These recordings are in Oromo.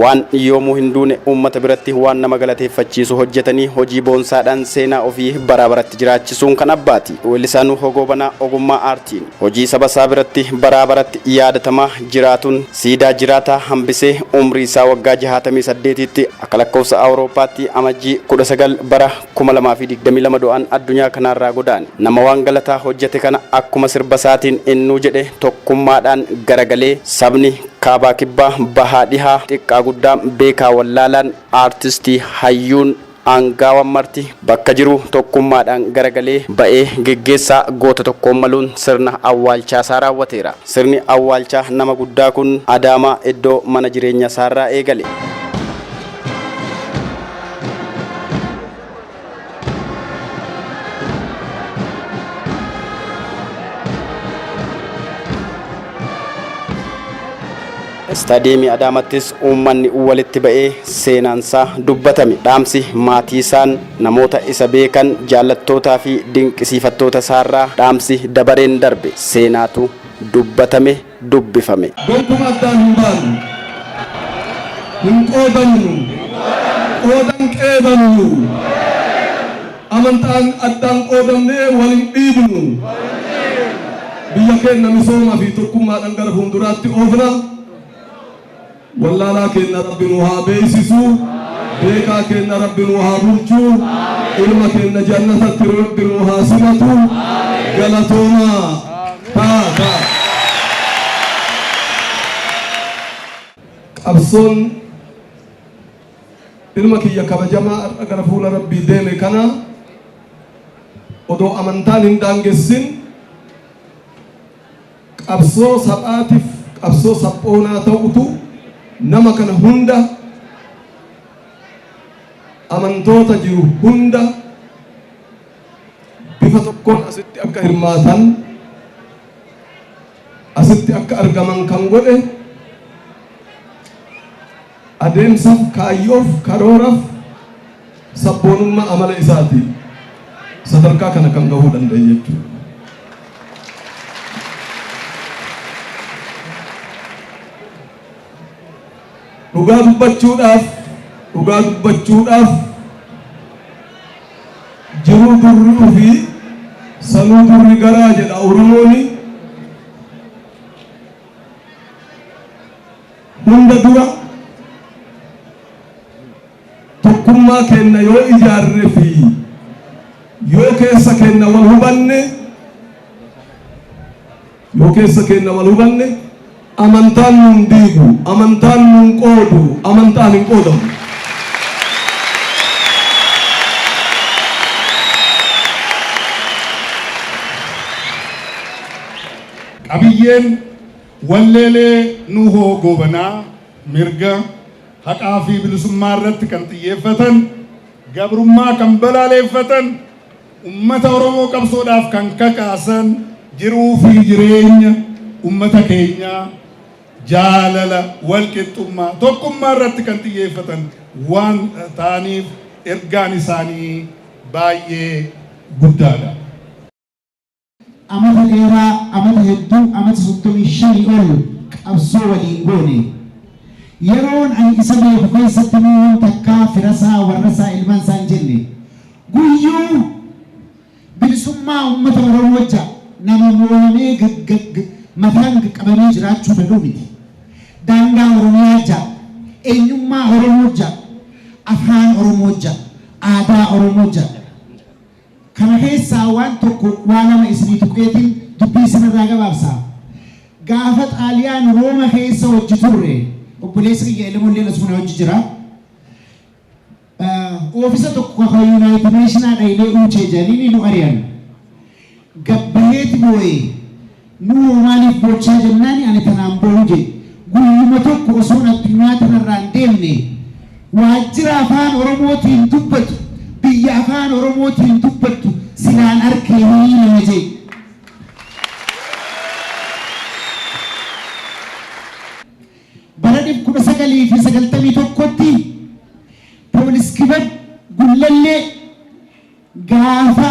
Waan yoomuu hin duune, uummata biratti waan nama galateeffachiisu hojjetanii hojii boonsaadhaan seenaa ofii baraa baratti jiraachisuun kan abbaati. Weellisaa Nuuhoo Goobanaa ogummaa aartiin hojii saba isaa biratti baraa baratti yaadatamaa jiraatuun siidaa jiraataa hambisee umrii isaa waggaa jahaatamii saddeetiitti akka lakkoofsa Awurooppaatti Amajjii kudha sagal bara kuma lamaa fi digdamii lama du'aan addunyaa kanaarraa godaane. Nama waan galataa hojjete kana akkuma sirba isaatiin innuu jedhe tokkummaadhaan garagalee sabni Kaabaa Kibbaa, Bahaa Dhihaa, Xiqqaa Guddaa, Beekaa Wallaalaan, Aartistii, Hayyuun, Aangaawan marti bakka jiruu tokkummaadhaan garagalee ba'ee geggeessaa goota tokkoon maluun sirna awwaalchaasaa raawwateera. Sirni awwaalchaa nama guddaa kun Adaamaa iddoo mana jireenyasaarraa eegale. Istaadiyeemii Adaamattis uummanni walitti ba'ee seenaansaa dubbatame. Dhaamsi maatii isaan namoota isa beekan jaallattootaa fi dinqisiifattoota isaarraa dhaamsi dabareen darbe seenaatu dubbatame. dubbifame. Gonkum addaan hin baanu. Hin qoodamnu. Qooda hin qeebamnu. Amantaan addaan qoodamnee wal hin dhiibnu. Biyya keenna misooma fi tokkummaadhan gara fuunduraatti oofna. Wallaalaa keenna Rabbi nuu haa beeysisu, beekaa keenna Rabbi nuu haa bulchu, ilma keenna jannatatti Rabbi nuu haa simatu. Galatoomaa! Taa! Taa! Qabsoon ilma kiyya kabajamaa har'a gara fuula Rabbii deeme kana odoo amantaan hin daangessin, Qabsoo sabaatif qabsoo sabboonaa ta'utu nama kana hunda amantoota jiru hunda bifa tokkoon asitti akka hirmaatan asitti akka argaman kan godhe Adeemsaf, kaayyoof, karooraf, sabboonummaa amala isaatiin sadarkaa kana kan gahuu danda'e jechuudha. Dhugaa dubbachuudhaaf, dhugaa dubbachuudhaaf jiruu durri ufi sanuu durri garaa jedha Oromooni. Hunda dura tokkummaa keenna yoo ijaarre fi yoo keessa keenna wal hubanne yoo keessa keenna wal hubanne amantaan nuun diigu amantaan nuun qoodu amantaan hin qoodamu. Qabiyyeen Walleelee Nuhoo Goobanaa mirga, haqaa fi bilisummaa irratti kan xiyyeeffatan, gabrummaa kan balaaleeffatan, ummata Oromoo qabsoodhaaf kan kakaasan, jiruu fi jireenya ummata keenyaa jaalala, walqixxummaa, tokkummaa irratti kan xiyyeeffatan waan ta'aniif ergaan isaanii baay'ee guddaadha. Amata dheeraa, amata hedduu, amata 35 ol qabsoo waliin goone. Yeroon ani isa beeku keessatti Nuuhun takkaa firasaa, warrasaa, ilmansaa hin jenne. Guyyuu bilisummaa ummata Oromoo jecha nama mooyamee mataan qaqqabamee jiraachuu danda'u miti. Daangaa Oromiyaa jecha, eenyummaa Oromoo jecha, afaan Oromoo jecha, aadaa Oromoo jecha, Kana keessaa waan tokko waa lama isinii tuqeetiin dubbii isin irraa gabaabsa. Gaafa Xaaliyaan Rooma keessa wajji turre, obboleessi kiyya Elemoon illeen asuma na wajji jira. Oofisa tokko ka Yunaayitid Neeshinaa dhaynee uuchee jedhaniini nu ari'an. Gad baheeti booye. Nuu hoo maaliif bochaa jennaani ani tanaan bohu je. Guyyuma tokko osoon addunyaa tanarraa hin deemne waajjira Afaan Oromootiin dubbatu, biyya Afaan Oromootiin dubbattu silaan arkee hii nama je. Bara 1991tti Police Kibab Gullallee. Gaafa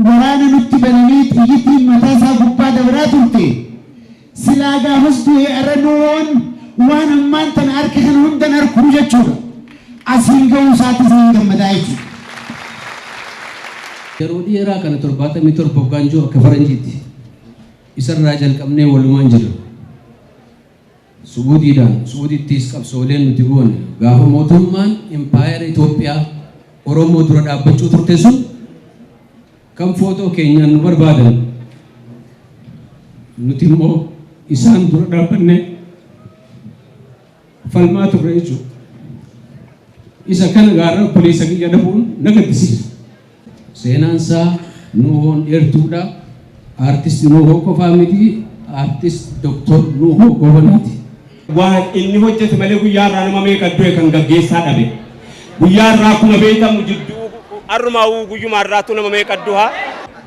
waraana nutti bananii xiyyitiin mataa isaa gubbaa dabraa turte, silaa gaafas du'e arra nuun waan ammaan tana arke kana hunda hin arku jechuudha. Asiin gahuu isaatti isaa hin gammadaa jechuudha. Yeroo dheeraa kana 77 hoggaan jiru akka faranjiitti isarraa jalqabnee walumaan jirra. Su'uudiidhaan Su'uudittiis qabsooleen nuti goone gaafa mootummaan impaayera Itoophiyaa Oromoo dura dhaabbachuu turte sun kan footoo keenyaan nu barbaadan nuti immoo isaan dura dhaabbannee falmaa turre jechuudha. Isa kana gaarra obboleessa kiyya dhabuun na gaddisiisa. Seenaan isaa Nuuhoon dheertuudha. Artist Nuuhoo qofaa miti, Artist Dr. Nuuhoo Goobanaati. Waan inni hojjete malee guyyaa har'aa nama meeqa du'e kan gaggeessaa dhabe. Guyyaa har'aa akkuma beekamu jidduu har'umaawuu guyyuma har'aattuu nama meeqa duha.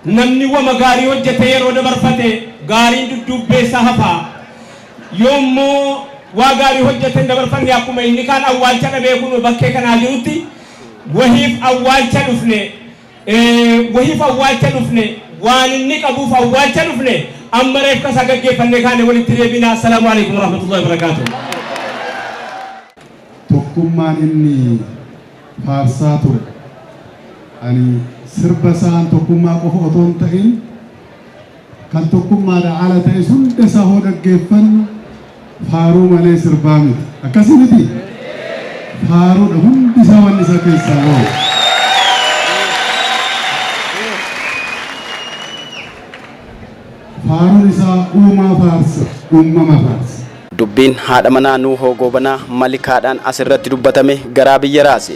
Namni wama gaarii hojjetee yeroo dabarfate gaariin dudduubbee isaa hafa. Yoo immoo waa gaarii hojjetee hin dabarfanne akkuma inni kaan awwaalcha dhabee kunoo bakkee kanaa jirutti, Wahiif awwaalcha dhufne Ee wahiif awwaalcha dhufne Waan inni qabuuf awwaalcha dhufne Amma reefka isaa gaggeeffannee kaane walitti deebina Assalaamu Aleykum Warahmatullahi Wabarakaatuh. Tokkummaan inni faarsaa ture ani sirba isaan tokkummaa qofa otoo hin ta'in Kan tokkummaadhaa ala ta'es hunda isaa hoo dhaggeeffannu faaruu malee sirbaa miti. Akkasii mitii? Faaruudha hundi isaa wanni isaa keessaa bahu. Faaruun isaa uumaa faarsa, uumama faarsa. Dubbiin haadha manaa Nuuhoo Goobanaa Malikaadhaan asirratti dubbatame garaa biyya raase.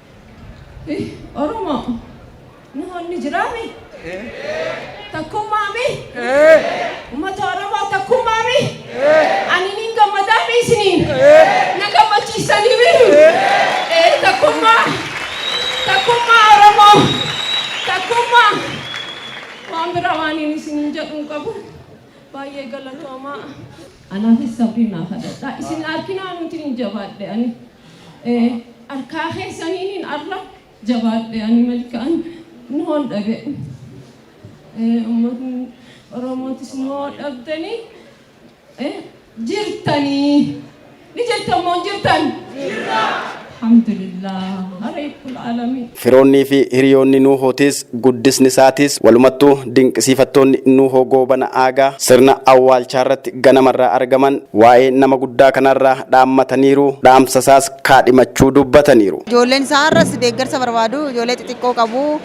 Hi Oromoo Nuhoon ni jiraa mi? Takkummaa mi? Ummata Oromoo takkummaa mi? Ani niin gammadaa mi isiniin? Na gammachiistanii mi? Ee takkummaa takkummaa Oromoo takkummaa waan biraa waaniin isiniin jedhu hin qabu baay'ee galatoomaa. Anaafis sabrii naaf hadhadhaa isin arkinaa nuutiin hin jabaadhe ani Arkaa keessaniinin arra jabaadhe ani malkaan noon dhabe ummatni oromootis noo dhabdanii jirtanii ni jirtan moo hin jirtan alhamdulillah reebbul aalamiin. Firoonnii fi hiriyoonni Nuuhootis, guddisni isaatis, walumattuu dinqisiifattoonni Nuuhoo Goobana Aagaa sirna awwaalchaarratti ganamarraa argaman waa'ee nama guddaa kanaarraa dhaammataniiru, dhaamsa isaas kaadhimachuu dubbataniiru. Ijoolleen isaa har'as deeggarsa barbaadu, ijoollee xixiqqoo qabu.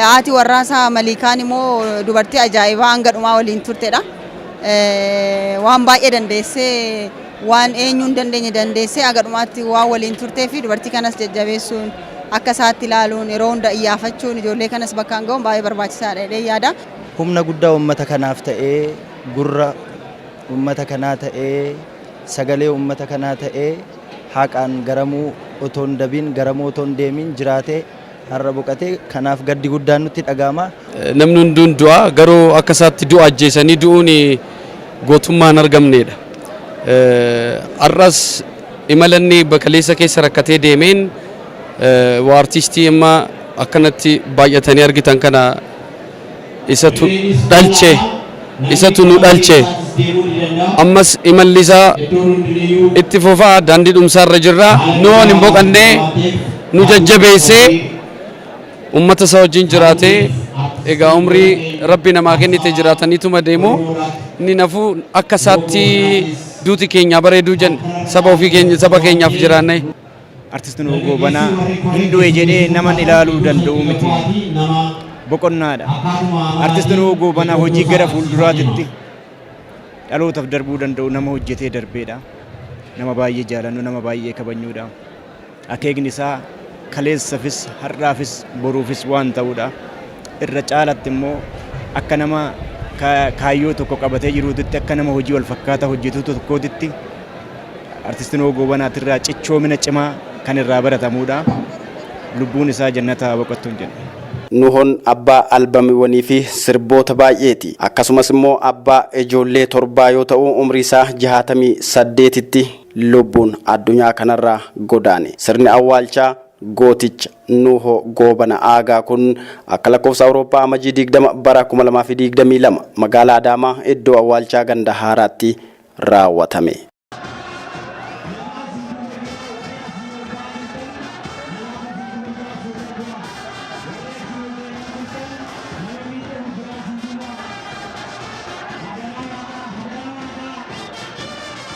Haati warraa isaa Maliikaan immoo dubartii ajaa'ibaa hanga dhumaa waliin turtedha. Waan baay'ee dandeessee, waan eenyu hin dandeenye dandeessee haga dhumaatti waan waliin turteef dubartii kanas jajjabeessuun. akka isaatti ilaaluun yeroo hunda iyyaafachuun ijoollee kanas bakkaan ga'uun baay'ee barbaachisaadha jedhee yaada. Humna guddaa uummata kanaaf ta'ee, gurra uummata kanaa ta'ee, sagalee uummata kanaa ta'ee haaqaan garamuu otoo hin dabiin, garamuu otoo hin deemiin jiraatee har'a boqate. Kanaaf gaddi guddaan nutti dhaga'ama. Namni hunduu ni du'a, garuu akka isaatti du'a ajjeesanii du'uun gootummaa hin argamneedha. Har'as. Imala inni eebba kaleessa keessa rakkatee deemeen waa artiistii amma akkanatti baay'atanii argitan kana isatu dhalche, isatu nu dhalche. Ammas imalli isaa itti fufa, daandii dhumsaa irra jirra. Nu hin boqanne, nu jajjabeesse. Ummata isaa wajjin jiraatee egaa umrii rabbi namaa kennite jiraataniituma deemu inni nafuu akka isaatti duuti keenyaa bareeduu jenna saba ofii keenya saba keenyaaf jiraannee. Artist Nuhuu Goobanaa hin du'e jedhee naman ilaaluu danda'u miti. Boqonnaadha. Artist Nuhuu Goobanaa hojii gara fuulduraatitti dhalootaaf darbuu danda'u nama hojjetee darbeedha. Nama baay'ee jaalannu, nama baay'ee kabajnuudha. Akeekni isaa kaleessafis, har'aafis, boruufis waan ta'uudha. Irra caalatti immoo akka nama kaayyoo tokko qabatee jiruutitti, akka nama hojii wal fakkaataa hojjetuu tokkootitti Artisti Nuhoo Goobanaatirraa cichoomina cimaa kan irraa baratamuudha. Lubbuun isaa jannata haa boqottuun jenna. Nuhoon abbaa albamiwwanii fi sirboota baay'eeti. Akkasumas immoo abbaa ijoollee torbaa yoo ta'u umrii isaa jahaatamii saddeetitti lubbuun addunyaa kanarraa godaane. Sirni awwaalchaa gooticha Nuuhoo Goobana Aagaa kun akka lakkoofsa Awurooppaa Amajii 20 bara 2022 magaalaa Adaamaa iddoo awwaalchaa ganda haaraatti raawwatame.